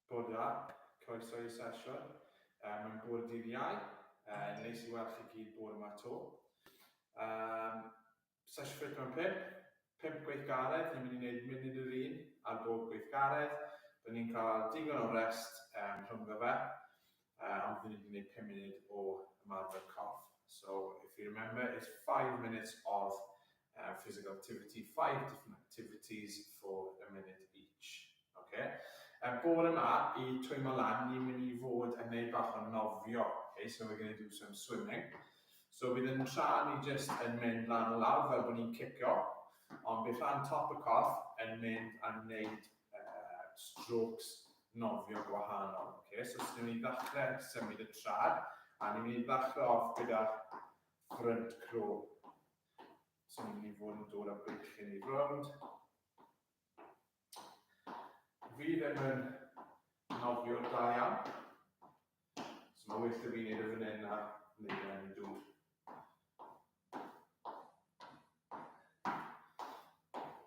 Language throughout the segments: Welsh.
Bore da, croeso i'r sesiwn. Yy mae'n bore dydd Iau, yy neis i weld chi gyd bore ma to. Yym sesiwn ffit mewn pump, pump gweithgaredd, ni'n mynd i wneud munud yr un ar bob gweithgaredd, dan ni'n cael digon o rest yym rhyngddo fe. Yy ond fi'n mynd i wneud pum munud o ymarfer corff. So if you remember it's five minutes of uh, physical activity, five different activities for a minute each. Okay? Uh, bore yma, i twymo lan, ni'n mynd i fod yn neud bach o nofio. Okay? So we're going to do some swimming. So bydd yn tra ni just yn mynd lan o lawr fel bod ni'n cicio, ond bydd rhan top y corff yn mynd a wneud uh, strokes nofio gwahanol. Okay, so os ni'n mynd i ddechrau symud y trad, a ni'n mynd i ddechrau off gyda front crow. So ni'n mynd i fod yn dod â beichyn i rownd. Fi ddim yn nofio da iawn. So mae'n well da fi wneud y fan hyn na wneud e yn y dŵr.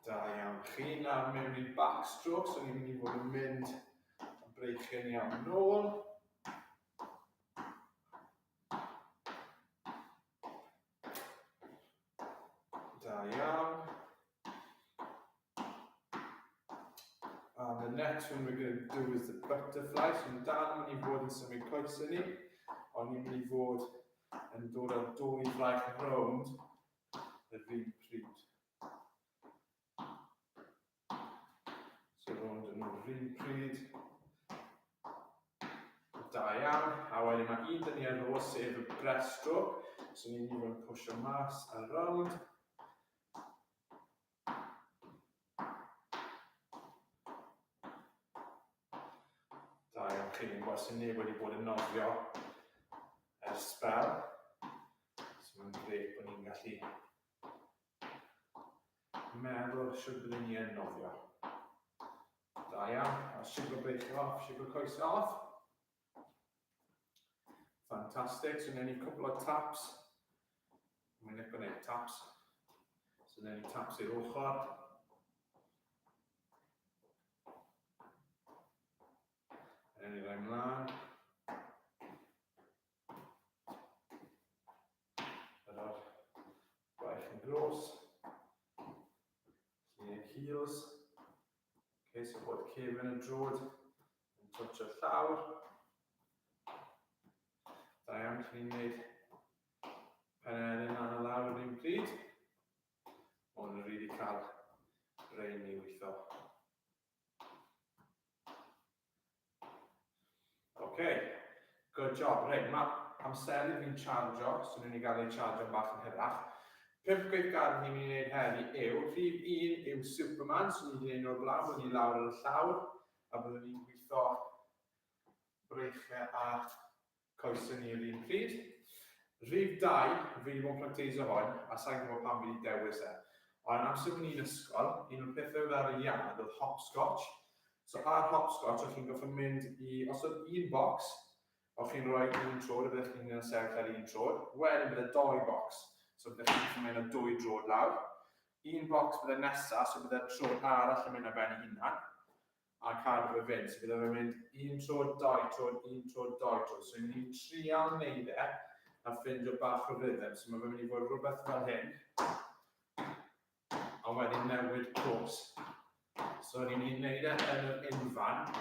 Da iawn. Chi nawr mewn i backstroke, so ni'n mynd i fod yn mynd yn breichyn iawn nôl. Da iawn. And the next one we're going to do is the butterfly. So yn dal yn mynd i fod yn symud coesau ni, ond ni'n mynd i fod yn dod â'r dwy fraich rownd yr un pryd. So rownd yn yr un pryd. Da iawn. A wedyn mae un dyn ni ar ôl sef y breast stroke. So ni'n mynd i fod yn pwysio mas ar rownd. Da iawn chi, ni'n gweld sy'n neb wedi bod yn nofio ar sbel. So mae'n gret bod ni'n gallu meddwl sy'n byddwn ni yn nofio. Da iawn, a siwgr beic off, siwgr coes off. Fantastic, so newn ni cwpl o taps. Mae'n eich gwneud taps. So newn ni taps i'r ochr. Newn ni roi mlaen. Yr o'r gwaith yn gros. Lle heels. Okay, so bod cefn y drod yn twtio'r llawr. Da iawn, chi'n ni'n gwneud pen air yn anna lawr yr un pryd. Ond yn rili cael rein i weithio. OK, good job. Reit, mae amser i fi'n chargio, so ni'n ei gael ei chargio'n bach yn hyrach. Pimp gweithgar ni'n mynd i wneud heddi yw, rhif un yw Superman, so ni'n mynd i wneud nhw'r blaen, ni'n lawr yn y llawr. A byddwn ni'n gwitho breichiau a coesau ni yr un pryd. Rhif dau, fi wedi bod yn practeisio hwn, a sa'n gwybod pam fi wedi dewis e. Ond amser o'n i'n ysgol, un o'r pethau oedd ar y iard oedd hopscotch. So ar hopscotch, o'ch chi'n gorfod mynd i, os oedd un bocs, o'ch chi'n rhoi un trod, a byddech chi'n cael sefyll ar un trod. Wedyn byddai doi bocs, so byddech chi'n gallu mynd â dwy drod lawr. Un bocs byddai nesa, so byddai'r tro arall yn mynd ar ben ei hunan, a cadw fe fynd. So byddai fe'n mynd un tro, dau tro, un tro, dau tro. So ni'n mynd i trial neud e, a ffindio bach o rhythm. So mae fe'n mynd i fod rhywbeth fel hyn, a wedyn newid cwrs. So ni'n mynd i neud e yn yr unfan,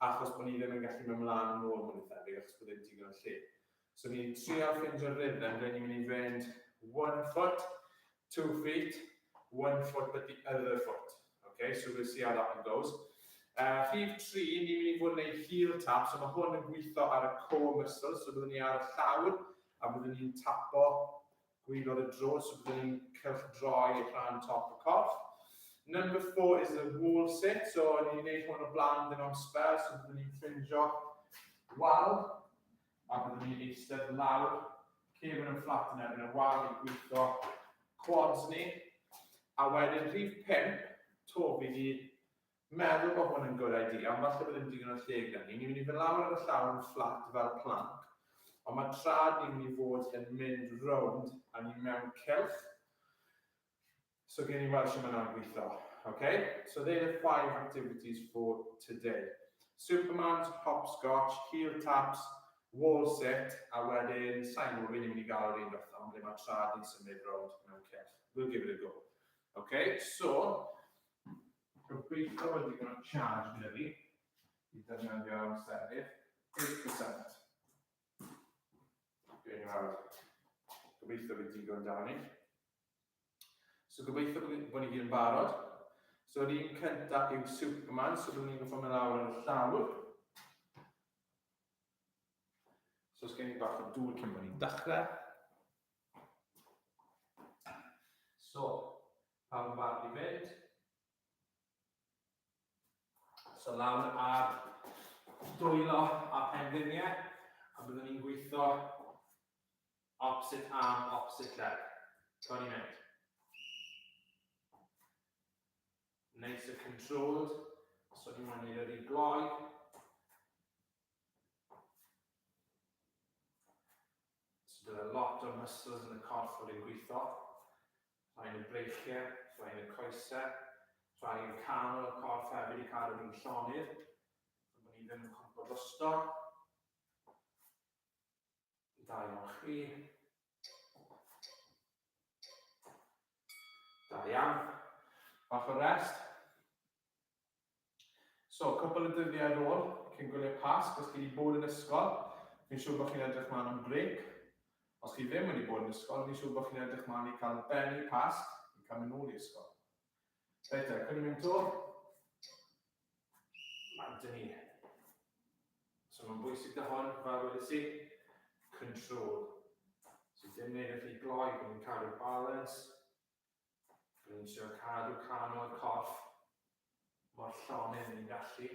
achos bod ni ddim yn gallu mynd mlaen yn ôl mwy thebyg, achos bod ddim digon o lle. So ni'n trial ffindio rhythm ble ni'n mynd i fynd one foot, two feet, one foot but the other foot. Okay, so we'll see how that one goes. Uh, rhif 3, ni'n mynd i fod yn ei heel tap, so mae hwn yn gweithio ar y core muscles, so byddwn ni ar y llawr, a byddwn ni'n tapo gwylod y drod, so byddwn ni'n cylchdroi rhan top y corff. Number 4 is the wall sit, so ni'n gwneud hwn o blaen dyn o'n spel, so byddwn ni'n ffrindio wal, a byddwn ni'n eistedd lawr, cefn yn fflat yn erbyn y wal i gwytho quads ni, a wedyn rhif 5, to fi di meddwl bod hwn yn good idea, ond falle bod ddim digon o lle gan ni. Ni'n mynd i fynd lawr ar y llawr yn fflat fel planc, ond mae trad ni'n mynd i fod yn mynd rownd a ni mewn cylch. So gen i weld sy'n mynd am gweithio. Okay, so they're the five activities for today. Supermans, hopscotch, heel taps, wall sit, a wedyn, sain o fi'n mynd i gael yr un beth am ble mae trad yn symud rownd mewn cyrch. We'll give it a go. Okay, so, gobeithio wedi gwneud o'n charge gyda fi, i ddefnyddio amser i'r 8%. Dwi'n ei fawr. Gobeithio bydd digon da ni. So gobeithio bod ni gyd yn barod. So yr un cyntaf yw Superman, so byddwn ni'n gwybod mewn awr yn y llawr. So os gen i bach o dŵr cyn bod ni'n dechrau. So, pawb yn barod i fynd. So lawr ar dwylo a penfiniau, a byddwn ni'n gweithio opposite arm, opposite leg. Cawn ni mynd. Nice and controlled. So ni'n mynd i'r un gloi. So bydd y lot o muscles yn y corff fod yn gwitho, rhai yn y breichiau, rhai yn y coesau, rhai yn canol y corff hefyd i cadw fi'n llonydd, ond bod ni ddim yn cwmpo drosto. Da iawn chi. Da iawn. Bach o rest. So, cwpl o dyddiau ar ôl, cyn gwylio Pasg, os chi wedi bod yn ysgol, fi'n siŵr bod chi'n edrych mlaen am brêc. Os chi ddim wedi bod yn ysgol, fi'n siŵr bod chi'n edrych mlaen i cael ben i Pasg, i cael mynd nôl i ysgol. Reit te, cwn i mynd to. Mae'n dyn ni. So mae'n bwysig da hwn, fel wedi si, control. So dim neud y rhy gloi, bod ni'n cadw balance. Rwy'n trio cadw can o'r corff mor llonydd ni'n gallu.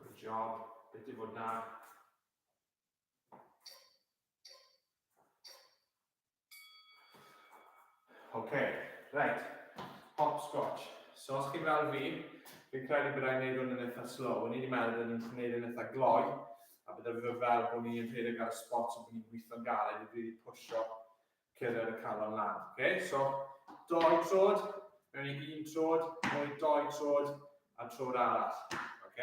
Good job. Beth i fod na? Ok, reit, hopscotch. So os chi'n fel fi, fi'n credu bod rhaid wneud hwn yn eitha slow. O'n i wedi meddwl bod ni'n gwneud yn eitha gloi, a bod fi fel bod ni'n rhedeg ar y spot a bod ni'n gweithio'n galed i rili pwysio cyrraedd y calon lan. Ok, so doi trod, mewn i un trod, mewn i doi trod, a trod arall. Ok?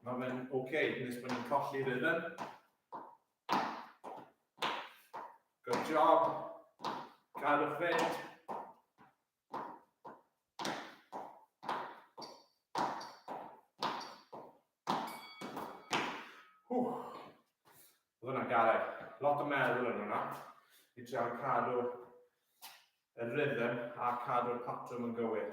Mae fe'n oce, okay, nes bod ni'n colli rhythm. Good job. Cadwch fynd. Oedd hwnna'n garau. Lot o meddwl yn hwnna. I trio cadw y rhythm a cadw'r patrwm yn gywir.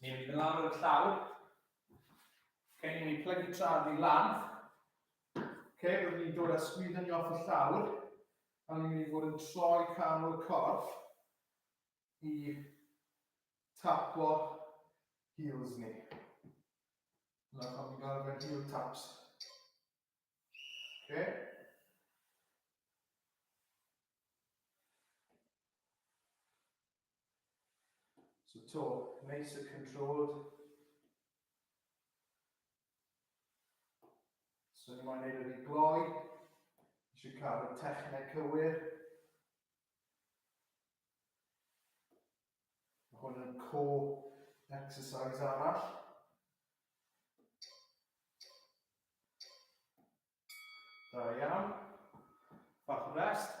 Ni'n mynd yn lawr y llawr. Okay, ni'n mynd plygu trad i lan. Okay, rydyn ni'n dod a sgwydda ni off y llawr. A ni'n mynd i fod yn troi canol y corff i tapo heels ni. Yna pan ni'n gael mewn heel taps. Okay. So to, neis y controlled. So ni moyn neud wedi gloi. Eisiau cael y techneg cywir. Mae hwn yn co exercise arall. Da iawn. Bach o rest.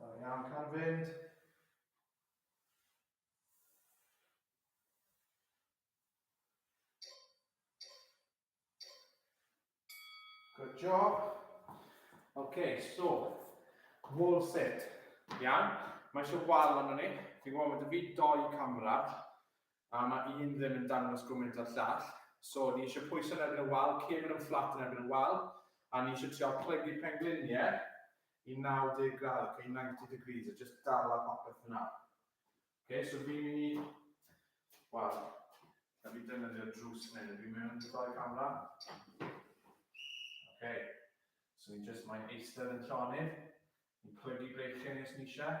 Da iawn, cael fynd. Good job. Okay, so, wall sit. Iawn, mae eisiau wal ond ni. Fi'n gwybod bod y fi doi camera, A ma un ddim yn dangos gwmynt a'r llall. So ni isio pwyso yn erbyn y wal, cefn yn fflat yn erbyn y wal, a ni isio trial plygu penglinie i 90 gradd, ok, 90 degrees, a jyst dala popeth fyna. Ok, so fi'n mynd i, wel, na fi defnyddio drws fan hyn, fi'n mynd yn droi camera. Ok, so ni jyst mae'n eistedd yn llonydd, ni'n plygu breichiau ni os ni eisiau.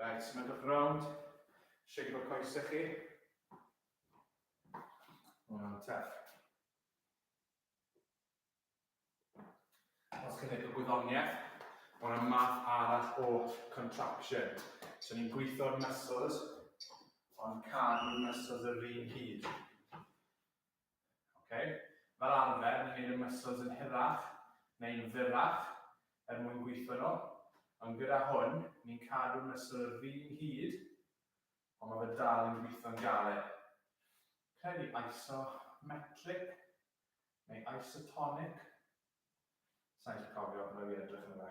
Right, myndwch rownd. Shake o'r coesau chi. Mae'n tef. Os chi'n edrych gwyddoniaeth, mae yna math arall o contraction. So ni'n gweithio'r muscles, ond cadw'r muscles yr un hyd. Ok? Fel arfer, ni'n neud y muscles yn hirach neu'n fyrrach er mwyn gweithio nhw, ond gyda hwn, ni'n cadw muscle yr un hyd, ond ma' fe dal yn gweithio'n galed. Credu isometric neu isotonic? Sai'n gallu cofio, rhaid fi edrych arno fe.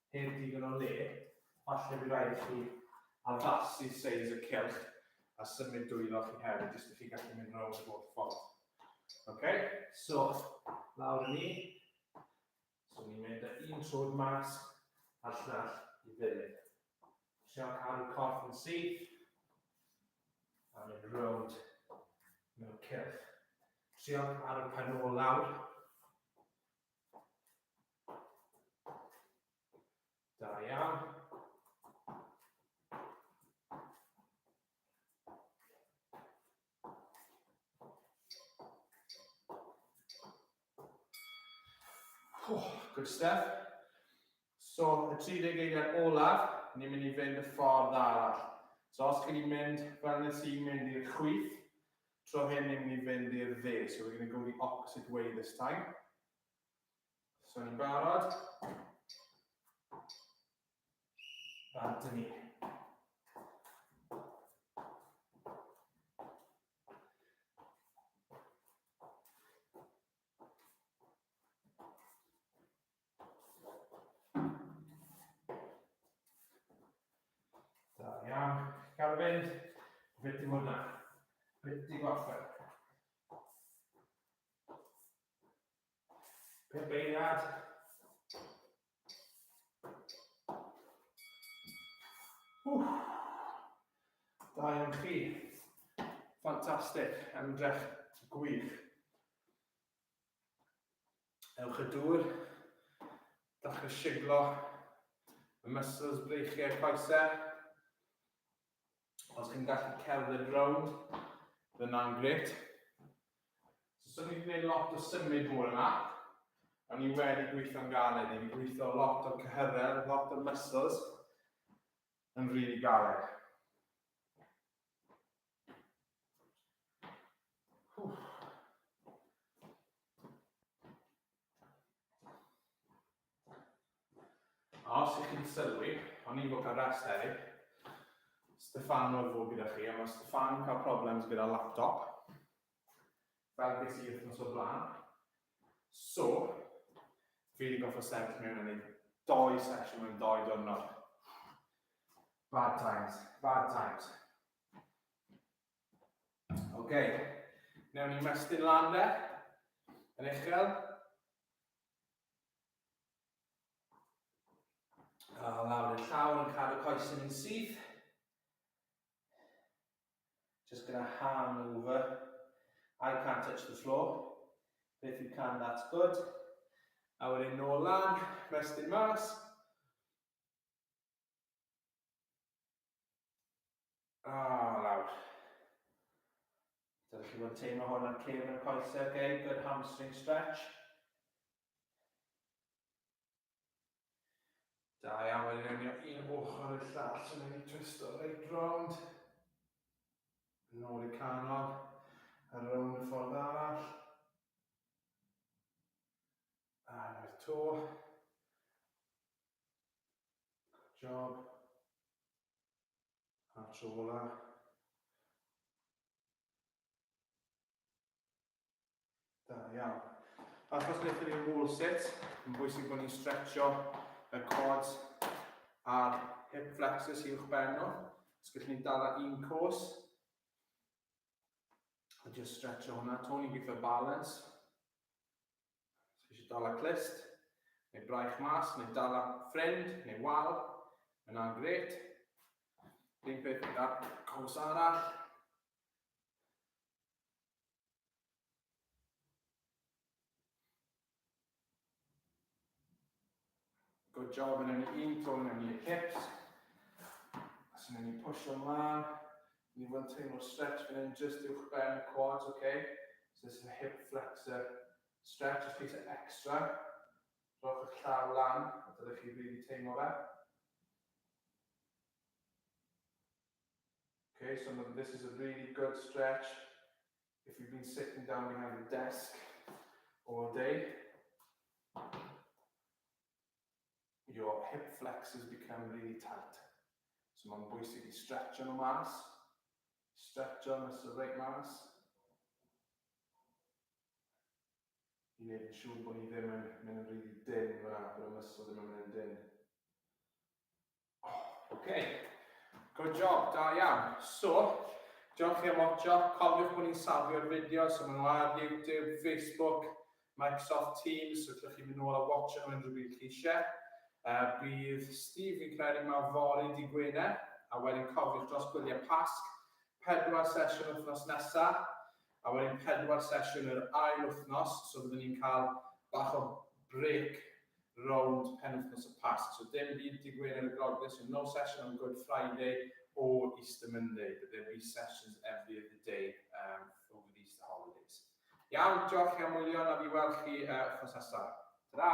Heb ddigon o le, falle bydd rhaid i chi addasu seis y cylch a symud dwylo chi hefyd, jyst i chi gallu mynd rownd y holl ffordd. Ok, so lawr i ni. So ni'n mynd â un trwyd mas a'r llall i ddilyn. Siarad cadw corff yn syth a mynd rownd mewn cylch. Siarad cadw pen ôl lawr. Da iawn. Oh, good stuff. So, y 30 eiliad olaf, ni'n mynd i fynd y ffordd arall. So, os chi wedi mynd fel nes i'n mynd i'r chwith, Tro hyn ni'n mynd i fynd i'r dde, so we're going to go the opposite way this time. So ni'n barod. Bant yn ni. Da iawn. Garfyn, beth di hwnna? Beth di gorffen? Pum beirniad. Wff. Da iawn chi. Ffantastig. Ymdrech gwych. Ewch y dŵr, dachrau siglo y muscles breichiau coesau. Os chi'n gallu cerdded rownd, dyna'n gret. So, so ni wedi gwneud lot o symud bore yma, a ni wedi gweithio'n galed, ni wedi gweithio lot o'r cyhyrredd, lot o'r muscles yn rili really galed. Os ych chi'n sylwi, o'n i'n bod ar rest hefyd. Stefan oedd fod gyda chi, a mae Stefan yn cael problems gyda laptop. Fel beth sy'n wythnos o blaen. So, fi wedi goffa sefyll mewn yn ei doi sesiwn mewn doi diwrnod. Bad times, bad times. Ok, newn ni mestyn lan de, yn uchel. A lawr i'r llaw yn cadw coes yn un syth. Just gonna hand over. I can't touch the floor. But if you can, that's good. A wedyn nôl lan, mestyn mas. O, lawr. Dydych chi fod teimlo hwn ar cefn y coesau, okay? Good hamstring stretch. Da iawn, mae'n rhywio un ochr i'r llall, so mae'n twist o reit rownd. Nôl i canol, a rownd y ffordd arall. A na'r to. job a'r tro ola. Da iawn. Achos wnaethon ni'n wall sit, yn bwysig bod ni'n stretcho y quads a'r hip flexors i'wch ben nhw. Os gallwn ni'n dala un cwrs, a just stretcho hwnna, to ni'n gweithio balance. Chi eisiau dala clust, neu braich mas, neu dala ffrind, neu wal, yna'n gret. Dim peth gyda cwrs arall. Good job yn enni un to yn enni y hips. As yn enni pwysio mlaen. Ni fwy'n teimlo stretch fan hyn just uwch ben y quads, oce? Okay? So this is a hip flexor stretch, os chi eisiau extra, rhowch eich llaw lan, a dylech chi rili really teimlo fe. Okay, so this is a really good stretch. if you've been sitting down behind a desk all day, your hip flexors become really tight. So mae'n bwysig i stretcho nhw mas, stretcho nhw sy'n reit mas, i wneud yn siŵr bod ni ddim yn mynd yn rili dim fyna, bod y muscle ddim yn mynd yn dim. Ok, good job, da iawn. So, diolch chi am watcho, cofiwch bod ni'n safio'r fideos, so maen nhw ar YouTube, Facebook, Microsoft Teams, so llwch chi mynd nôl a watcho nhw unrhyw bryd chi eisiau. Uh, bydd Steve fi'n credu ma fori di Gwener, a wedyn cofiwch dros gwyliau Pasg, pedwar sesiwn wythnos nesaf, A wedyn pedwar sesiwn yr ail wythnos, so byddwn ni'n cael bach o brêc rownd penwythnos y Pasg. So dim byd Dydd Gwener y Groglith, so no session on Good Friday or Easter Monday, but there'll be sessions every other day um, over the Easter holidays. Iawn, diolch chi am wylio, na fi weld chi uh, wythnos nesaf. Ta-da!